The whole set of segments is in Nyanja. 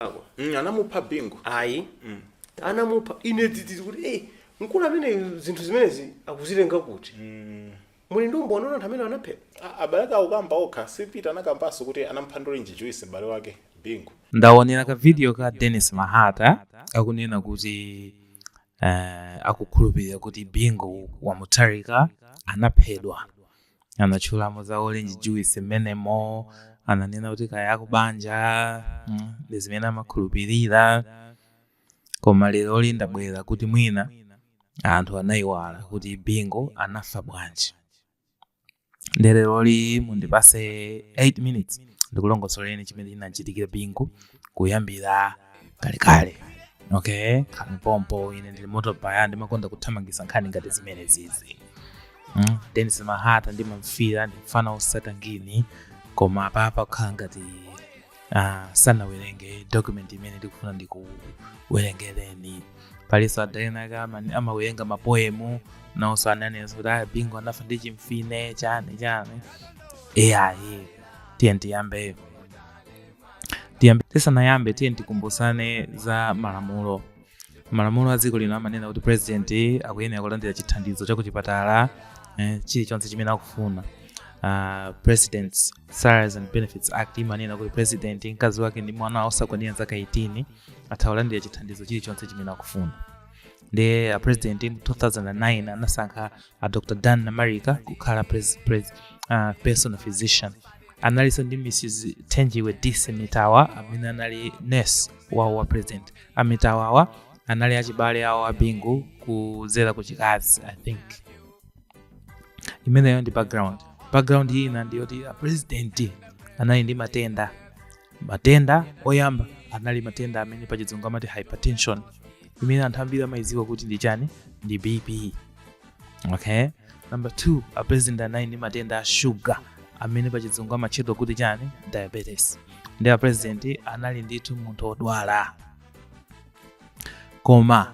ako Mm, anamupha bingu ayi anamupha ine tititi kuti eh mkulu amene zinthu zimenezi akuzitenga kuti muli ndi umboni anthu amene anaphedwa A- abale ake akukamba okha si peter anakambanso kuti anamupha ndi orange juice m'bale wake bingu ndaonera ka video ka dennis mahata akunena kuti uh, akukhulupirira kuti bingu wa mutharika anaphedwa anatchulamo za orange juice mmenemo ananena kuti kaya akubanja mm, ndi zimene amakhulupirira koma leroli ndabwera kuti mwina anthu anayiwala kuti bingu anafa bwanji nde leroli mundipase 8 minutes ndikulongosoleni chimene chinachitikira bingu kuyambira kalekale okay khalani pompo ine ndili moto paya ndimakonda kuthamangisa nkhani ngati zimene zizi mm? denis mahata ndimamfila ndimfana osata ngini koma apapa kukhala ngati uh, sanawerenge document imene ndikufuna ndikuwerengereni palinso adaenake amawerenga mapoemu naonso ananenso kuti aya bingu anafa ndi chimfine chani chani eyayi tiyeni tiyambe tiyambe tisanayambe tiyeni tikumbusane za malamulo malamulo a dziko lino amanena kuti president akuyenera kulandira chithandizo cha kuchipatala eh, chilichonse chimene akufuna uh, presidents salaries and benefits act imanena kuti president mkazi wake ndi mwana osakwanira zaka 18 atha kulandira chithandizo chilichonse chimene akufuna ndiye a president mu 2009 anasankha a dr dan namarika kukhala pres, pres, uh, personal physician analinso ndi mrs thenjiwe dissi mitawa amene anali nurse wawo wa president a mitawawa anali achibale awo a bingu kudzera ku chikazi i think imeneyo ndi background background ina ndiyoti a president anali ndi matenda matenda oyamba anali matenda amene pachizungu amati hypertension imene anthu ambiri amayidziwa kuti ndi chani ndi bp okay number two a president anali ndi matenda a shuga amene pachizungu amatchedwa kuti chani diabetes nde a president anali ndithu munthu wodwala koma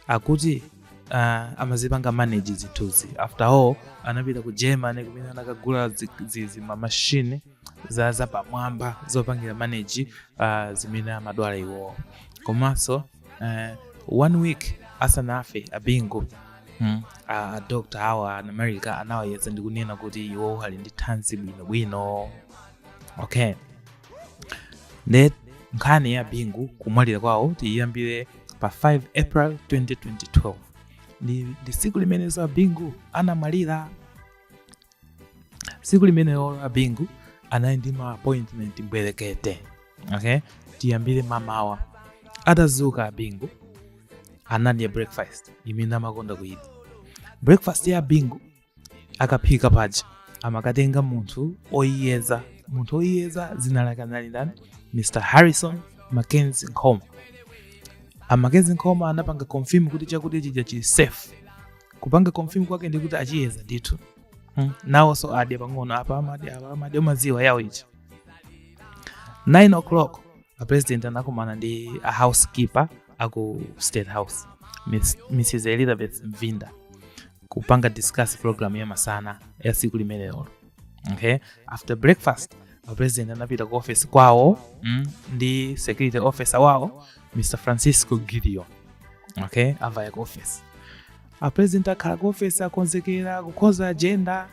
akuti uh, amazipanga manage zinthuzi after all anapita ku germany kumene anakagula zi- zi- zimamashini za zapamwamba zopangira manage uh, zimene amadwala iwowo komanso eh, one week asanafe abingu mm. a doctor awa a namarika anawayeza ndi kunena kuti iwo ali ndi thanzi bwinobwino okay nde nkhani ya bingu kumwalira kwawo tiyiyambire pa 5 april 2012 ndi, ndi tsiku limenenso abingu anamwalira tsiku limenelo a bingu anali ndi ma appointment mbwerekete okay tiyambire mamawa atazuka a bingu anadya breakfast imene amakonda kuyidya breakfast ya a bingu akaphika paja amakatenga munthu oyiyeza munthu oyiyeza zina lake anali ndani mr harrison mackenzie nkhoma a mackenzie nkhoma anapanga confirm kuti chakudya chija chili safe kupanga confirm kwake ndikuti achiyeza ndithu hmm. nawonso adya pang'ono apa amadya umadziwa yawo ichi 9 o'clock a president anakumana ndi a housekeeper aku state house Miss, mrs elizabeth mvinda kupanga discuss program ya masana ya siku limenelo okay after breakfast a president anapita ku office kwawo mm, ndi security officer wawo mr francisco gideon okay avaya ku office apresident akhala ku office akonzekera kukhonza agenda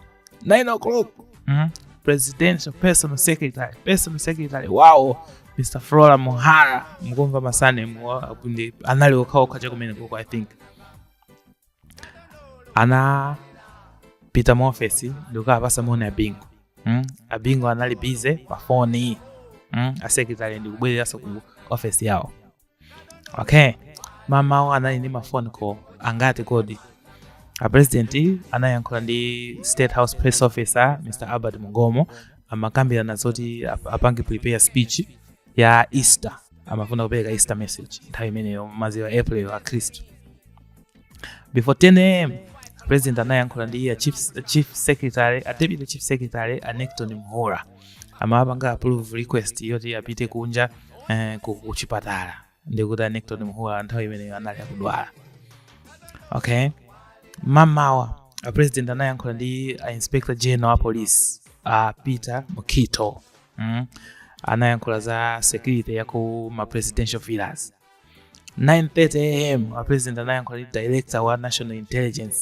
9 o'clock mm? presidential personal secretary personal secretary wawo mr flora muhara mukumva ma surname anali okhaokha chakumeneko i think anapita mu ofesi ndikukaapasa moni a bingu mm? a bingu anali busy pa foni mm? asekretary ndikubwereranso ku ofesi yawo okay mamawa anali ndi ma phone call angati kodi apresidenti anayankhula ndi state house press officer mr albert mungomo amakambirana zoti ap- apange prepare speech ya easter amafuna kupereka easter message nthawi imeneyo maziwa april akhristu before 10 am president anayankhula ndi a chief, chief secretary a deputy chief secretary a necton mhura amapanga approve request yoti apite kunja eh, ku- ku chipatala ndikuti a necton mhura nthawi imeneyo anali akudwala okay mamawa a president anayankhula ndi a inspector general a police a peter mukhito mm. anayankhula za security ya ku ma presidential villas 9:30 am a president anayankhula ndi director wa national intelligence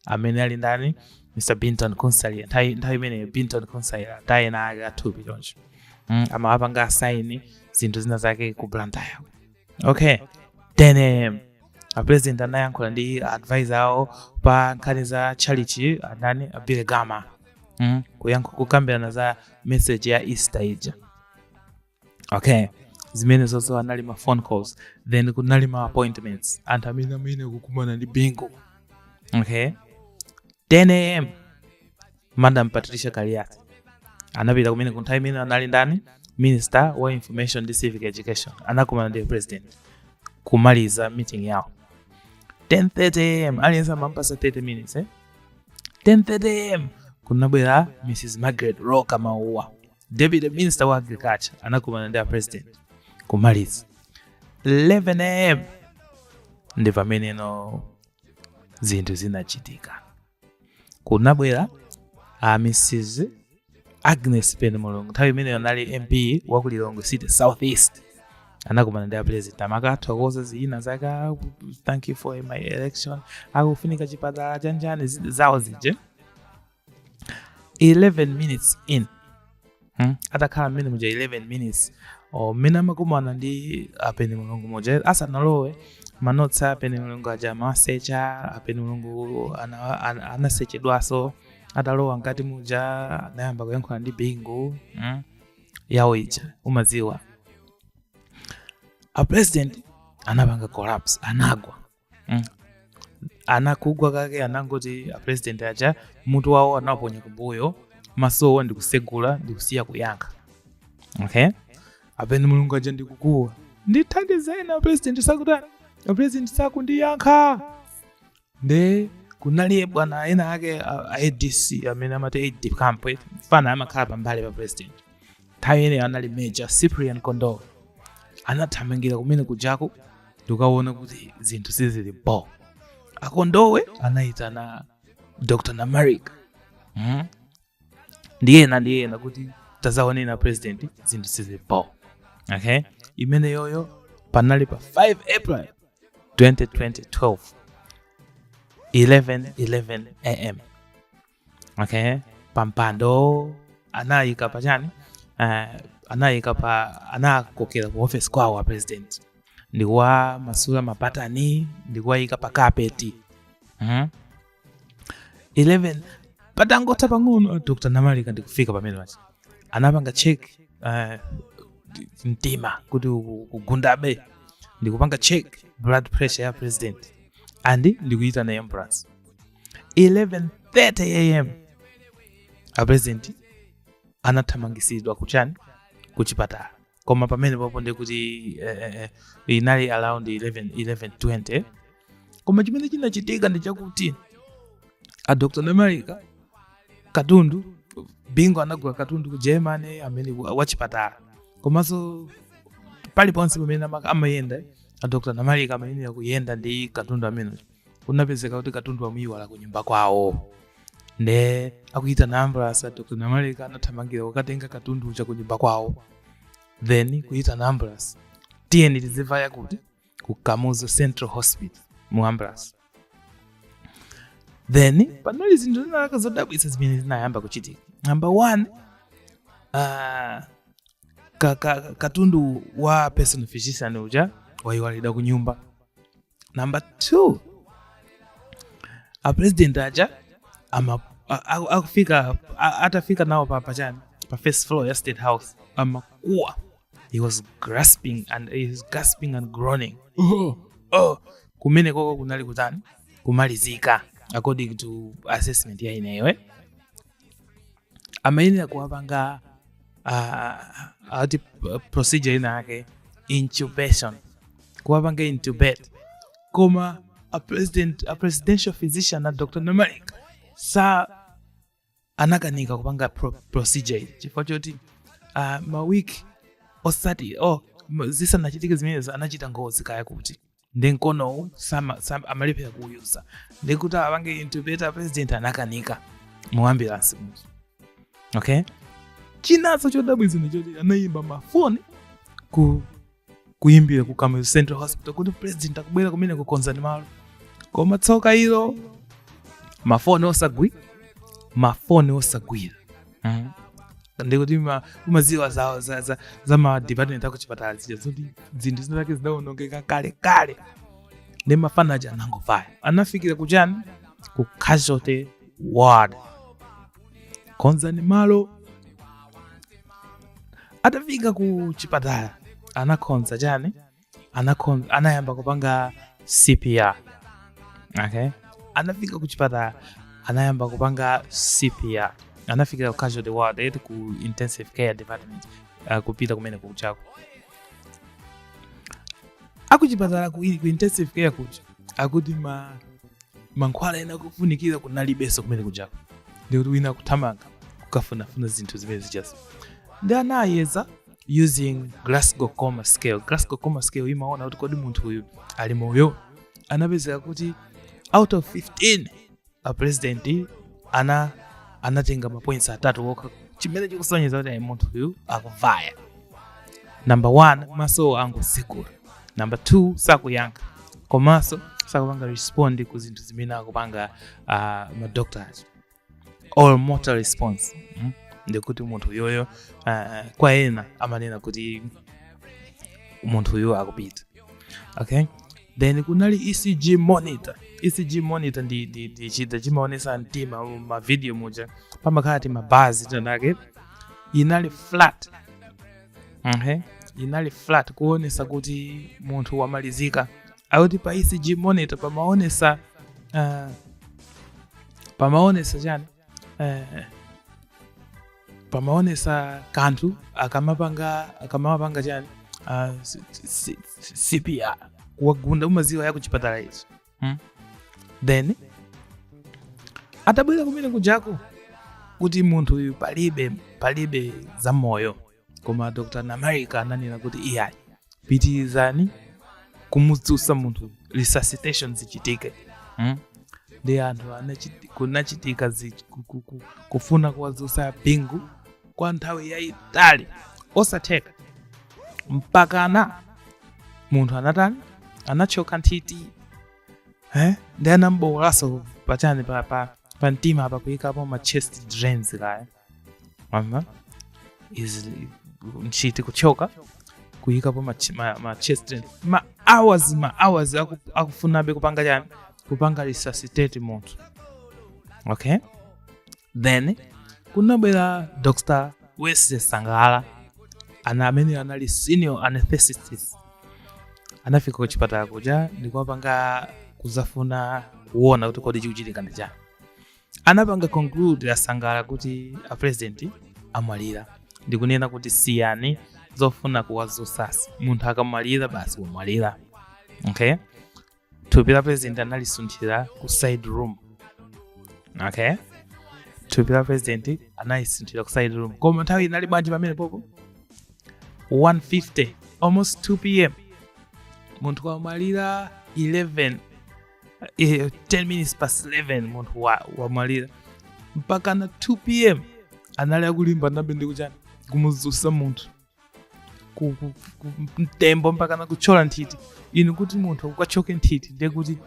amene ali ndani mr bintony kutsaira nthawi nthawi imeneyo bintony kutsaira taye na ake athupi choncho mm, amawapanga assign zinthu zina zake ku blantyre okay 10 am a president anayankhula ndi advisor awo pa nkhani za chalichi andani a billy gama mm, kuyankhu kukambirana za message ya easter ija okay zimene zonse anali ma phone calls then kunali ma appointments anthu amene amene kukumana ndi bingu okay 10 am madam patricia kaliati anapita kumene ku nthawi imene anali ndani minister wa information and civic education anakumana ndi president kumaliza meeting yawo 10:30 am aliyense amampasa 30 minutes eh? 10:30 am kunabwera mrs margaret roka mauwa Deputy minister wa agriculture, anakumana ndi a president kumaliza 11 am ndi pameneno zinthu zinachitika. Kunabwera a Mrs Agnes Penemulungu, nthawi imeneyo anali MP wa ku Lilongwe City South East, anakumana ndi a president amakathokoza zina zake, "Ah, thank you for my election, akufunika chipatala chanjani zi- zawo zije 11 minutes in hmm? atakhala mmene muja 11 minutes or mmene amakumana ndi a penemulungu muja asanalowe manotsi a penemulungu aja amasecha a penemulungu ana- ana- anasechedwaso atalowa mkati muja anayamba kuyankhula ndi bingu hmm? yawo ija umaziwa a president anapanga collapse anagwa mm. anakugwa kake anangoti apresident aja mutu wawo anaponya kumbuyo masowa ndikusegula ndikusiya kuyankha okay a penemulungu aja ndikukuwa ndithandizeni apresident sakutani apresident sakundiyankha nde kunaliye bwana ena ake a adc amene amati aide camp fana amakhala pambali pa president nthawi imeneyo anali major cyprian kondowe anathamangira kumene kujaku ndikawona kuti zinthu sizili bo a kondowe anayitana dr namarika mm? ndiyena ndiyena kuti tazaonena president zinthu sizili bo okay imeneyoyo panali pa 5 april 2012 11 11 am okay pampando anayika pa chani uh, anayika pa anakokera ku office kwawo a president ndikuwamasula mapatani ndikuwayika pa kapeti mm-hmm. 11 patangotha pang'ono dr namarika ndikufika pamene pachi anapanga check uh, mtima kuti kugundabe ndikupanga check blood pressure ya president and ndikuyitana ambulance 11:30 am apresident anathamangisidwa kuchani kuchipatala koma pamene papo ndi kuti eh, eh, eh, inali around 11 11:20 koma chimene chinachitika ndi chakuti a dr namalika katundu Bingu anagula katundu ku germany amene wa- wachipatala komanso paliponse pamene ama- amayenda a dr namarika amayenera kuyenda ndi katundu amene kunapezeka kuti katundu amuyiwala ku nyumba kwawo nde akuyitana ambulance a dr namarika anathamangira kukatenga katundu uja ku nyumba kwawo then kuyitana ambulance tiyeni tizivaya kuti ku kamuzu central hospital mu ambulance then panali zinthu zinazake zodabwitsa zimene zinayamba kuchitika number one uh, ka, ka, katundu wa personal physician uja wayiwalidwa ku nyumba number two apresident aja ama- a- a- akufika a- atafika nawo pa pachani pa first floor ya state house amakuwa he was gasping and he was gasping and groaning oh, oh. kumene koko kunali kutani kumalizika according to assessment ya ineyo eh? amayenera kuwapanga uh, ati procedure ina yake intubation kuwapanga intubate koma a, president, a presidential physician na dr namarika sa anakanika kupanga pro, procedure iyi chifukwa choti uh, mawiki osati oh, zisanachitike zimenezo anachita ngozi kaya kuti ndi mkonowu sama- sam- amalephera kuuyuza ndi kuti apange intubate president anakanika mu ambulance muja okay chinanso chodabwitsa ndi choti anayimba mafoni ku kuyimbira ku Kamuzu central hospital kuti president akubwera kumeneko konzani malo koma tsoka ilo mafoni osagwira mafoni osagwira mm. ndikuti umaziwa za, za, za, za ma department akuchipatala zija zoti zinthu zinazake zidaonongeka kale kale ndi mafana aja anangovaya anafikira kuchani ku casualty ward konzani malo atafika ku chipatala anakhonza chani anakon- anayamba kupanga cpr okay anafika kuchipatala anayamba kupanga cpr anafika ku casualty ward then ku intensive care department uh, kupita kumene kujako akuchipatala ku, ku intensive care kuja akuti ma mankhwala ena ake ofunikira kunalibenso kumene kujako ndikuti wina akuthamanga kukafunafuna zinthu zimene zijazo ndi anayeza using glasgow coma scale glasgow coma scale imaona kuti kodi munthu uyu ali moyo anapezeka kuti out of 15 a president ana anatenga mapoints atatu okha chimene chikusonyeza kuti ayi munthu uyu akuvaya number one maso angotsekula number two sakuyankha komanso sakupanga respond ku zinthu zimene akupanga uh, madoctors all motor response mm? ndikuti munthu uyoyo uh, kwa ena amanena kuti munthu uyu akupita okay then kunali ecg monitor ecg monitor ndi, ndi, ndi chida chimaonesa mtima m'mavidiyo muja pamakhala ti mabazi tinake inali flat okay inali flat kuonesa kuti munthu wamalizika akuti pa ecg monitor pamaonesa uh, pamaonesa chani eh, pamaonesa kanthu akamapanga akamapanga chani ah, C- C- C- cpr kuwagunda mumaziwa za kuchipatala izo hmm? then atabwera kumene kujako kuti munthu uyu palibe palibe za moyo koma dr namarika ananena kuti iyayi pitirizani kumudzutsa munthu resuscitation zichitike mm? ndi anthu anachiti- kunachitika zi- ku- ku- ku- kufuna kuwadzutsa bingu kwa nthawi yayitali osatheka mpakana munthu anatani anatchoka nthiti eh? ndi anambowolanso pachani pa, pa, pa mtima apa kuyikapo ma chest drains kaya Aha. Is nthiti kutchoka kuyikapo ma, ch- ma, ma chest drains. ma hours ma hours aku- akufunabe kupanga chani kupanga resuscitate munthu okay then kunabwera dr wesley sangala ana amene anali senior anesthetist anafika ku chipatala kuja ndikuwapanga kuzafuna kuona kuti kodi chikuchitika ndi chani anapanga conclude asangala kuti a president amwalira ndikunena kuti siyani zofuna kuwazusazi munthu akamwalira basi wamwalira okay thupi la president analisunthira ku side room okay thupi la president analisunthira ku side room koma nthawi inali bwanji pamenepopo 150 almost 2 pm munthu wamwalira 11 eh, 10 minutes past 11 munthu wa- wamwalira mpakana 2 pm anali akulimbanabe ndi kuchani kumuzusa munthu ku- ku- ku- mtembo mpakana kutchola nthiti inu kuti munthu ukatchoke nthiti ndiye kuti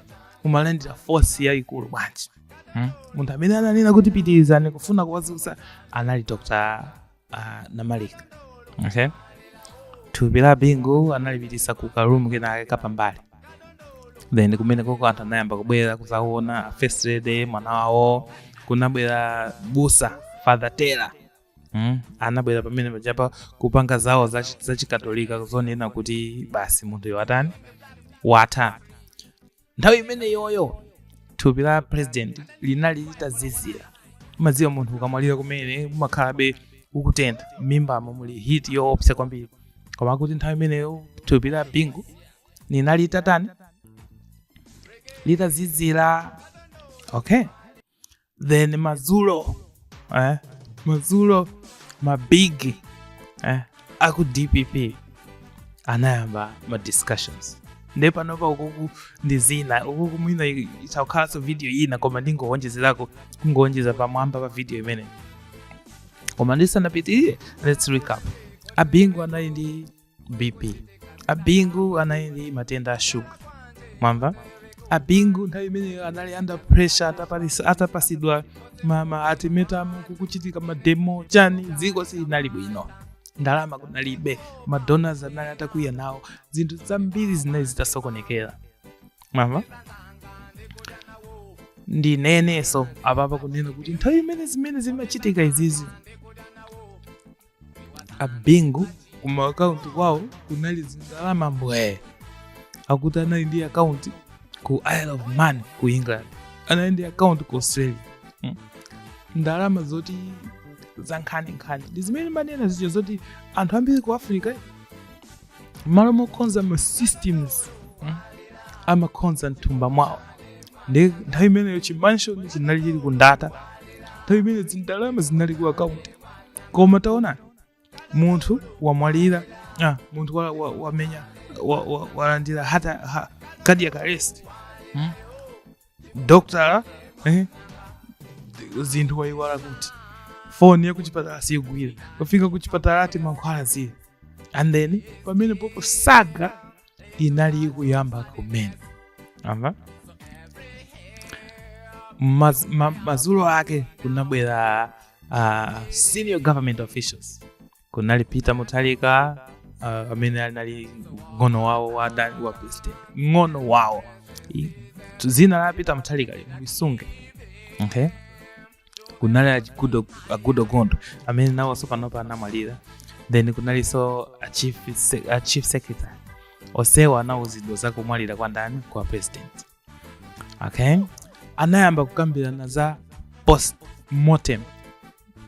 umalandira force yayikulu bwanji Hmm? munthu amene ananena kuti pitirizani kufuna kuwazusa anali dr ah, namarika okay. thupi la bingu analipitisa ku karumu kenake kapambali then kumene koko anthu anayamba kubwera kuzaona first lady mwana wawo kunabwera busa father taylor mm? anabwera pamene pajapa kupanga zawo zachikatolika kuzonena kuti basi munthuyo watani watha nthawi imeneyoyo thupi la president linali litazizira umadziwa munthu ukamwalira kumene umakhalabe ukutentha m'mimbamo muli heat yoopsa kwambiri koma akuti nthawi imeneyo thupi la bingu linali litatani litazizira okay then madzulo eh, madzulo mabig eh, aku dpp anayamba ma discussions nde panopa ukuku ndi zina ukuku mwina izakhalanso video ina koma ndingowonjezerako kungowonjeza pamwamba pa video imene koma ndisanapitirire let's recap abingu anali ndi bp abingu anali ndi matenda a shuga mwamva abingu nthawi imeneyo anali under pressure atapalisa- atapasidwa ma ultimatum kukuchitika mademo chani dziko silinali bwino ndalama kunalibe madonors anali atakwiya nawo zinthu zambiri zinali zitasokonekera mwamva ndinenenso apapa kunena kuti nthawi imene zimene zimachitika izizi abingu kuma akaunti kwawo kunali zindalama mbwee akuti anali ndi akaunti ku isle of man ku england anali ndi akaunti ku australia mm. ndalama zoti zankhaninkhani ndi zimene manena zicho zoti anthu ambiri ku africa mmalo mokonza ma systems mm, amakonza mthumba mwawo nde nthawi imeneyo chimansion chinali chili ku ndata nthawi imeneyo zindalama zinali ku akaunti koma taona munthu wamwalira ah, munthu wa- wa- wamenya wa- wa- walandira heart a- ha- cardiac arrest mm. dokotala eh, zinthu wayiwala kuti foni yakuchipatala siyigwira kufika kuchipatala ati mankhwala zii and then pamene popo saga inali ikuyamba kumene mwamva Maz, ma, mazulo ake kunabwera uh, senior government officials kunali peter mutharika uh, amene anali ng'ono wawo wa ndani wa president ng'ono wawo I- dzina la peter mutharika lisunge okay kunali a goodall a goodall gondwe amene nawonso panopa anamwalira then kunalinso a chief, se- a chief secretary onsewa anawuzidwa za kumwalira kwa ndani kwa president okay anayamba kukambirana za post mortem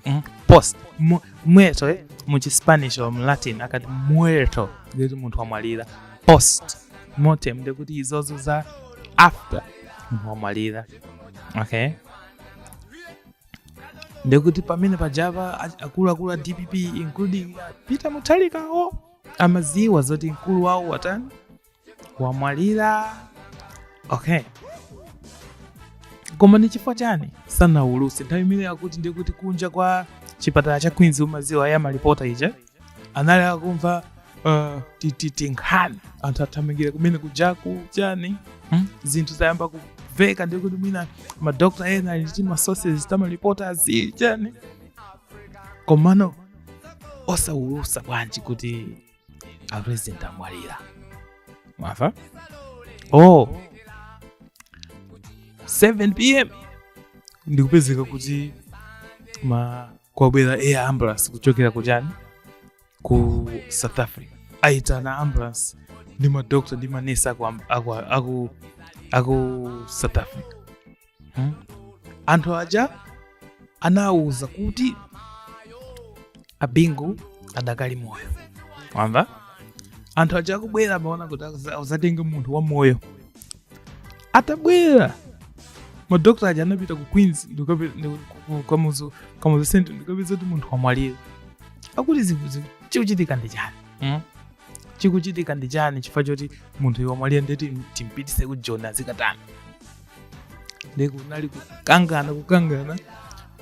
mm? post mu- muerto eh? muchispanish or mulatin akati muerto ndikuti munthu wamwalira post mortem ndikuti izozo za after munthu wamwalira okay ndikuti pamene pajava a- akuluakulu a dpp including peter mutharikawo amaziwa zoti mkulu wawo watani wamwalira okay koma ndi chifukwa chani sanawuluse nthawi imene akuti ndiye kuti kunja kwa chipatala cha queens umaziwa za malipota ija anali akumva uh, tititi nkhani anthu athamangira kumene kujaku chani hmm? zinthu zayamba kuveka ndiye kuti mwina madokta ena ali ndi masources tamalipota azi chani komano osawulusa bwanji kuti apresident amwalira mwamva oh 7 pm ndikupezeka kuti mm kwabwera air ambulance kuchokera kuchani ku south africa aitana ambulance ndi madokta ndi manesi aku, aku, aku, aku south africa Hmm? anthu aja anawuza kuti abingu adakali moyo wamva anthu aja akubwera amaona kuti azatenge munthu wa moyo atabwera madokta aja anapita ku queens kamuzu central ndikapeza kuti munthu wamwalira akuti chikuchitika ndi chani hmm? chikuchitika ndi chani chifukwa choti munthu wamwalira ndeti timpitise ku joni azikatani nde kunali kukangana kukangana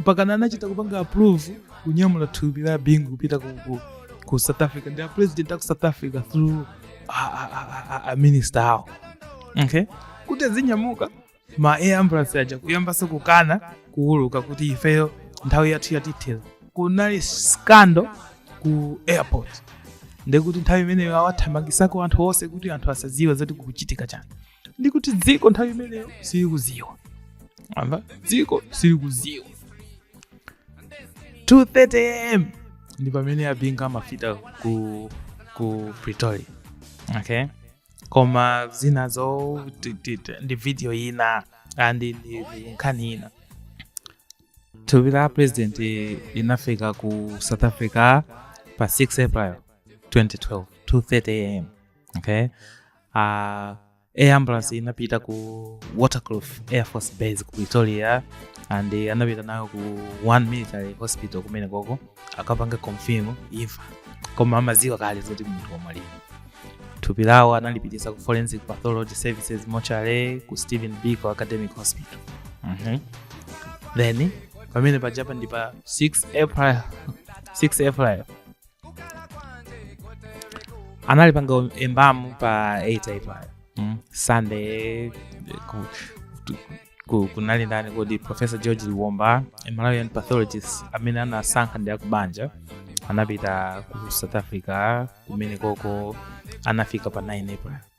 mpakana anachita kupanga approve kunyamula thupi la bingu kupita ku, ku, ku south africa ndi a president aku south africa through a, a, a, a, a minister awo okay kuti azinyamuka ma air ambulance aja kuyambanso kukana kuuluka kuti ifeyo nthawi yathu yatithera kunali scandal ku airport ndekuti nthawi imeneyo awathamangisako anthu onse kuti anthu asaziwe zoti kukuchitika chani ndikuti dziko nthawi imeneyo silikuziwa wamva dziko silikuziwa 230 am ndi pamene abingu amafika ku, ku pretoria okay koma zinazo ti- ti- ti- ndi video ina andi ndi ndi nkhani ina thupi la president linafika ku south africa pa 6 april 2012 230 am okay uh, air ambulance inapita ku Waterkloof air force base ku pretoria and eh, anapita nayo ku one military hospital kumene koko akapanga confirm imfa koma amaziwa kale zoti munthu wamwalira thupi lawo analipitisa ku forensic pathology services mortuary ku Stephen Biko academic hospital Mhm. then pamene pajapa ndi pa 6 april 6 april analipanga embalm pa 8 april mm. sunday ku, tu- ku, kunali ndani kodi professor George Liomba a malawian pathologist amene anasankha ndi akubanja anapita ku south africa kumene koko anafika pa 9 april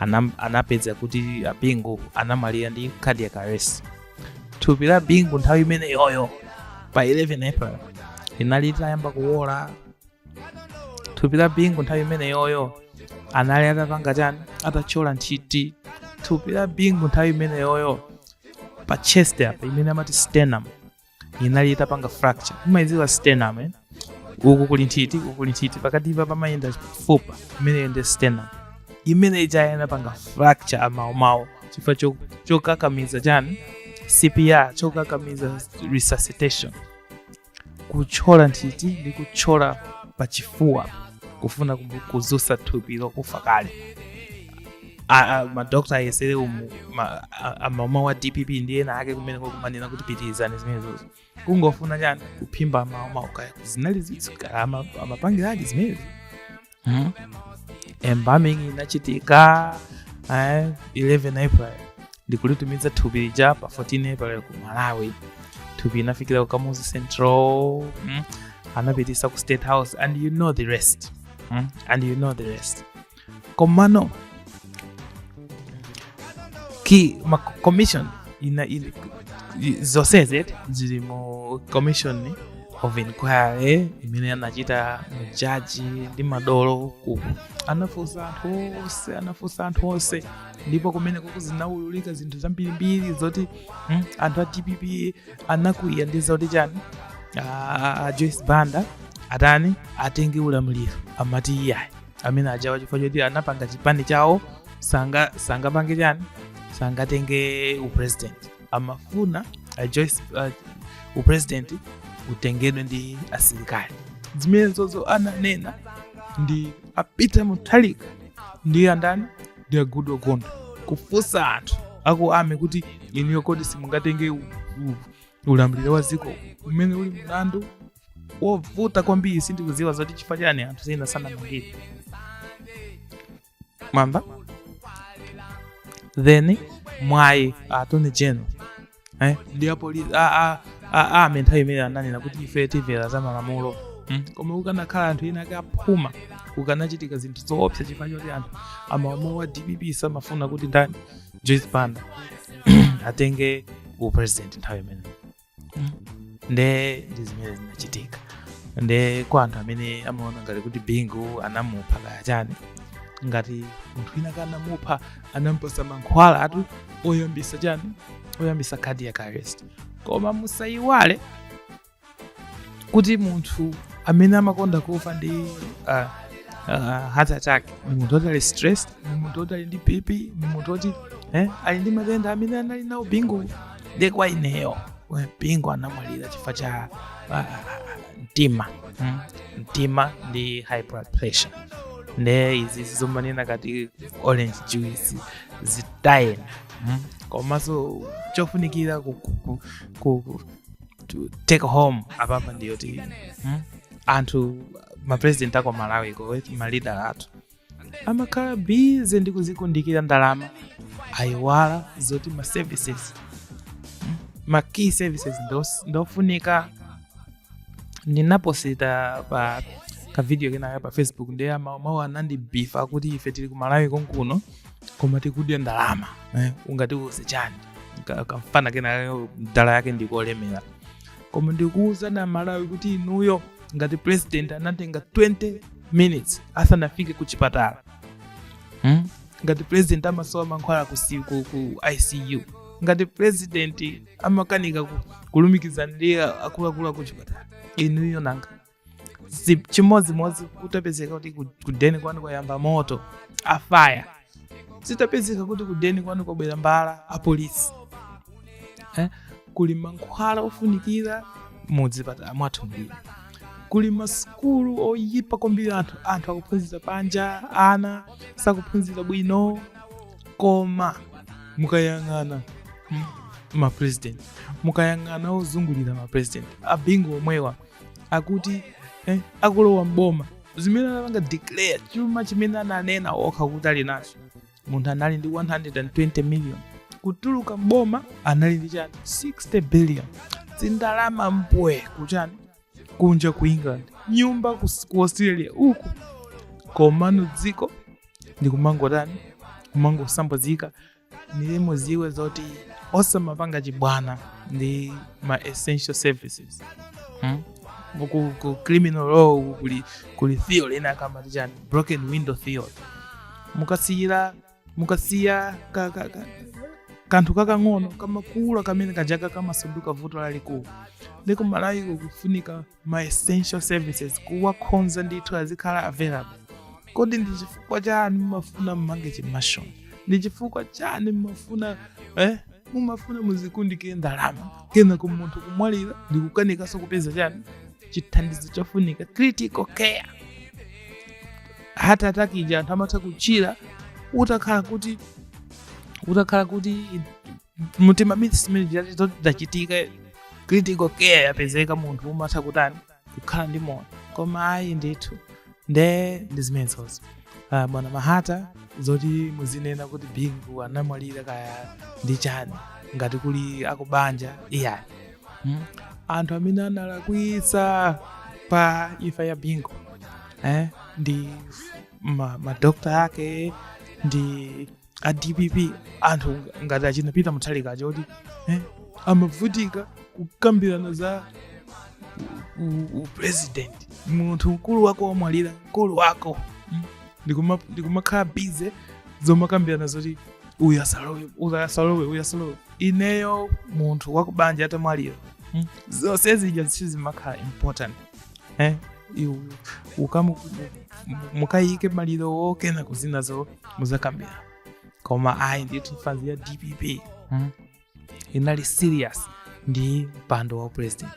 anam- anapeza kuti a bingu anamwalira ndi cardiac arrest thupi la bingu nthawi imeneyoyo pa 11 april linali litayamba kuwola thupi la bingu nthawi imeneyoyo anali atapanga chani atathyola nthiti thupi la bingu nthawi imeneyoyo pa chest apa imene amati sternum inali itapanga fracture mumayidziwa sternum eh? uku kuli nthiti uku kuli nthiti pakatipa pamayenda fupa imeneyo ndi sternum imene ija inapanga fracture amaomawo chifukwa cho- chokakamiza chani cpr chokakamiza resuscitation kutchola nthiti ndi kutchola pachifuwa kufuna kumu- kudzutsa thupi lokufa kale a- a- madokta ayesere umu ma- amaoma wa dpp ndi ena ake kumene kumanena kuti pitirizani zimenezozo kungofuna chani kuphimba mawu mawu kaya zinali zitsi kaya ama- amapangiradi zimenezi Mhm. embalming inachitika eh, 11 april ndikulitumiza thupi lija pa 14 april ku malawi thupi inafikira ku kamuzu central mm? anapititsa ku state house and you know the rest mm? and you know the rest komano ki ma commission ina, ina zonsezi zili mu commission of inquiry imene anachita ma judge ndi madolo ku anafunsa anthu onse anafunsa anthu onse ndipo kumeneko zinaululika zinthu zambirimbiri zoti mm, anthu a dpp anakwiya ndi zoti chani a joyce banda atani atenge ulamuliro amati iyayi amene ajawa chifukwa choti anapanga chipani chawo sanga sangapange chani sangatenge upresident amafuna a Joyce, uh, upresident utengedwe ndi asilikali zimenezozo ananena ndi a Peter Mutharika ndi andani ndi a Goodall Gondwe kufunsa anthu aku army kuti inuyo kodi simungatenge u- u- ulamuliro wa dziko umene uli mlandu wovuta kwambiri sindikudziwa zoti chifukwa chani anthu ena sanamangidwe mwamba then mwayi attorney general eh, ndi apolisi army nthawi imene ananena kuti ife timvera za malamulo mm. koma kukanakhala anthu ena ake aphuma kukanachitika zinthu zoopsa chifukwa choti anthu amalamulo wa dpp samafuna kuti ndani joyce banda atenge upresident nthawi imeneyo nde ndi zimene zinachitika nde kwa anthu amene amaona ngati kuti bingu anamupha kaya chani ngati munthu wina kanamupha anampasa mankhwala ati oyambisa chani oyambisa cardiac arrest koma musayiwale kuti munthu amene amakonda kufa ndi uh, uh, heart attack ni munthu oti ali stressed ni munthu oti ali ndi bp ni munthu oti eh, ali ndi matenda amene anali nawo bingu ndi kwa ineyo bingu anamwalira chifukwa cha ah, mtima mm, mtima ndi high blood pressure nde izi zomanena kuti orange juice zitayeni mm, komanso chofunikira ku, ku, ku, ku, ku to take home apapa ndiyoti mm, anthu mapresident aku malawi ko malida athu amakhala busy ndi kudzikundikira ndalama aiwala zoti ma services mm, ma key services ndos- ndofunika ndinaposita pa kavidiyo kenaka pa facebook ndiye amawomawo anandibifa kuti ife tili ku malawi konkuno koma tikudya ndalama eh, ungatiuze chani Ka- kamfana kenaka mdala yake ndikolemera koma ndikuwuzani amalawi kuti inuyo ngati president anatenga 20 minutes asanafike ku chipatala hmm? ngati president amasowa mankhwala ku, si- ku, ku icu ngati president amakanika ku- kulumikizana ndi akuluakulu aku chipatala inuyo nanga si chimodzimodzi kutapezeka kuti ku- kudeni kwanu kwayamba moto a fire zitapezeka kuti kudeni kwanu kwabwera mbala apolisi eh? kuli mankhwala ofunikira mudzipatala mwathu mbiri kuli masukulu oyipa kwambiri anthu anthu akuphunzira panja ana sakuphunzira bwino koma mukayang'ana m- mapresident mukayang'ana ozungulira mapresident a bingu omwewa akuti eh, akulowa m'boma zimene anapanga declare chuma chimene ananena okha kuti ali nacho munthu anali ndi 120 million kutuluka m'boma anali ndi chani 60 billion zindalama mbwee kuchani kunja ku england nyumba kus- ku australia uku komano dziko ndikumangotani kumangosambazika ndiye muziwe zoti osamapanga chibwana ndi ma essential services hmm? ku, ku criminal law kuli, kuli theory ina amati chani broken window theory mukasiyira mukasiya ka, ka, ka, kanthu kakang'ono kamakula kamene kajaka kamasanduka vuto lalikulu ndiye ku Malawiko kufunika ma essential services kuwakonza ndithu azikhala available kodi ndi chifukwa chani mumafuna mmange chimashoni ndi chifukwa chani mumafuna eh? mumafuna muzikundikire ndalama kenako munthu kumwalira ndi kukanikanso kupeza chani chithandizo chofunika critical care heart attack ija anthu amatha kuchira utakhala kuti utakhala kuti mtima zachitika critical care yapezeka munthu umatha kutani kukhala ndi moyo koma ayi ndithu nde ndi zimenezozo uh, bwana mahata zoti muzinena kuti bingu anamwalira kaya ndi chani ngati kuli akubanja iyayi hmm? anthu amene analakwitsa pa imfa ya bingu eh? ndi madokotala ake ndi a dpp anthu ngati achina peter Mutharika aja kuti eh, amavutika kukambirana za u- u- upresident munthu mkulu wako wamwalira mkulu wako mm, ndikuma- ndikumakhala busy zomakambirana zoti uyu asalowe uyu asalowe uyu asalowe ineyo munthu wakubanja atamwalira mm, zonse zija zichizimakhala important eh, iwu ukamu mukayike malirowo kenako zinazo muzakambira koma ayi ndithu fanzi ya dpp mm, inali serious ndi mpando wa upresident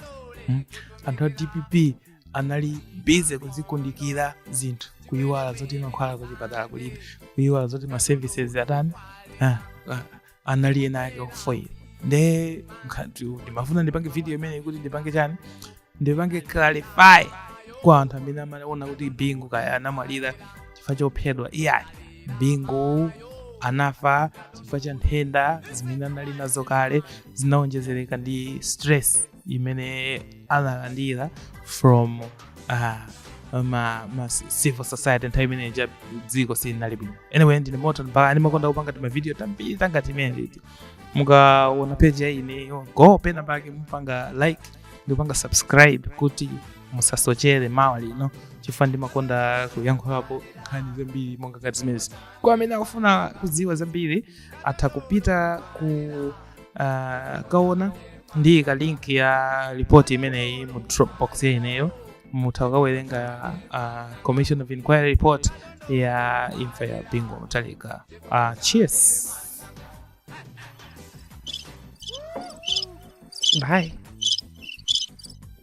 mm. anthu a dpp anali busy kuzikundikira zinthu kuyiwala zoti mankhwala kuchipatala kulibe kuyiwala zoti ma services atani ah, ah, anali ena ake ofoyira nde ndimafuna ndipange video imeneyi kuti ndipange chani ndipange clarify kwa anthu amene amaona kuti bingu kaya anamwalira chifukwa chophedwa iyayi bingu anafa chifukwa cha nthenda zimene anali nazo kale zinaonjezereka ndi stress imene analandira from uh, ma, ma civil society nthawi imene ija dziko silinali bwino anyway ndine moto mpaka ndimakonda kupanga timavidiyo tambiri tangati timeneti mukaona page ya ineyo go pena pake mupange like ndikupanga subscribe kuti musasochere mawa lino chifukwa ndimakonda kuyankhulapo nkhani zambiri monga ngati zimenezi kwa amene akufuna kudziwa zambiri atha kupita ku Ah, kaona ndiika link ya report imeneyi mu dropbox ya ineyo mutha kukawerenga ah, commission of inquiry report ya imfa ya bingu wa mutharika Ah, cheers bye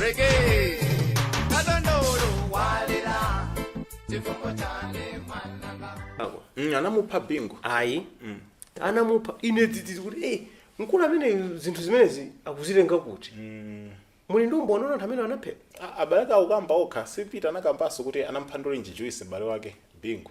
Reggae. Kadondolo walera. Chifungo chane mwananga. Ako. Mm, anamupha bingu ayi anamupha ine dzidzidzi kuti eh mkulu amene zinthu zimenezi akuzitenga kuti muli ndi umboni wa anthu amene anaphedwa A- abale akamba okha sipita anakambanso kuti anamupha ndolenji juice m'bale wake bingu